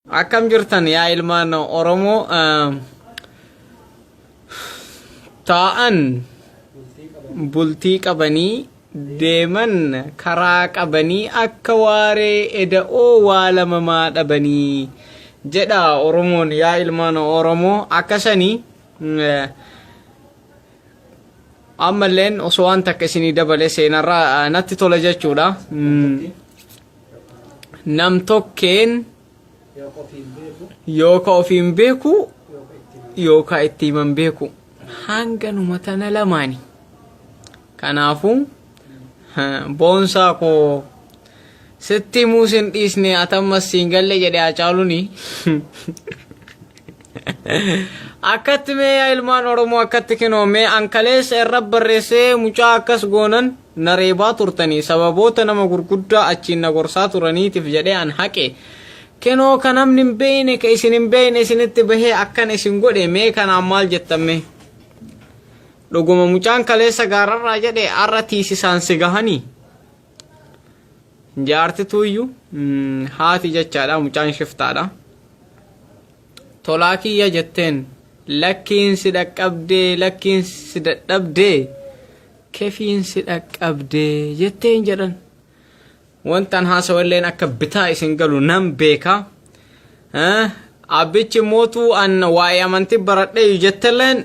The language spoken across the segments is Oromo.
Akkam jirtan yaa ilmaan Oromoo taa'an bultii qabanii deeman karaa qabanii akka waaree eda'oo waa lamamaa dhabanii jedha Oromoon yaa ilmaan Oromoo akka sanii ammalleen osoo waan takka isinii dabale seenarraa natti tola jechuudha. namtokkeen yooka ofiin beeku yooka itti himan beeku hanganuma tana lamaani kanaafuu boonsaa koo sitti himuu sin dhiisne atammas siin galle jedhe haacaaluni akkatti mee yaa ilmaan oromoo akkatti kinoo mee ankaleessa irra barreessee mucaa akkas goonan na reebaa turtanii sababoota nama gurguddaa achiin na gorsaa turaniitiif jedhee an haqe kinoo ka namni hin beeyne ka isin hin beeyne isinitti bahee akkan isin godhe mee kanaan maal jettamme dhuguma mucaan kaleessa gaararraa jedhe arra tiisisaan si gahanii Jaartituuyyu haati jechaadha mucaan shiftaadha. Tolaa kiyya jetteen lakkiin si dhaqqabdee lakkiin si dadhabdee kefiin si dhaqqabdee jetteen jedhan. Wantan haasawalleen akka bitaa isin galu nan beeka. Abbichi mootuu an waa'ee amantii baradheeyyu jettelleen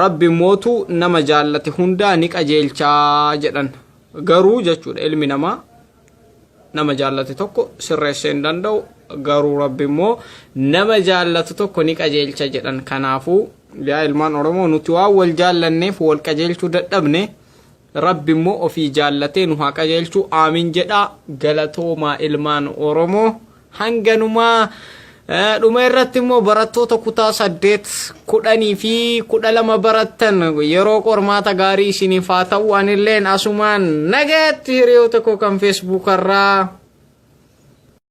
Rabbi mootu nama jaallate hundaa ni qajeelchaa jedhan. Garuu jechuudha ilmi namaa nama jaallate tokko sirreessee hin danda'u garuu rabbi immoo nama jaallatu tokko ni qajeelcha jedhan kanaafuu yaa ilmaan oromoo nuti waan wal jaallanneef wal qajeelchuu dadhabne rabbi immoo ofii jaallatee nu haa qajeelchuu aamin jedhaa galatoomaa ilmaan oromoo. hanganumaa dhuma irratti immoo barattoota kutaa saddeet kudhanii fi kudha lama barattan yeroo qormaata gaarii isiniif haa ta'u anilleen asumaan nagaatti hiriyoota koo kan feesbuukarraa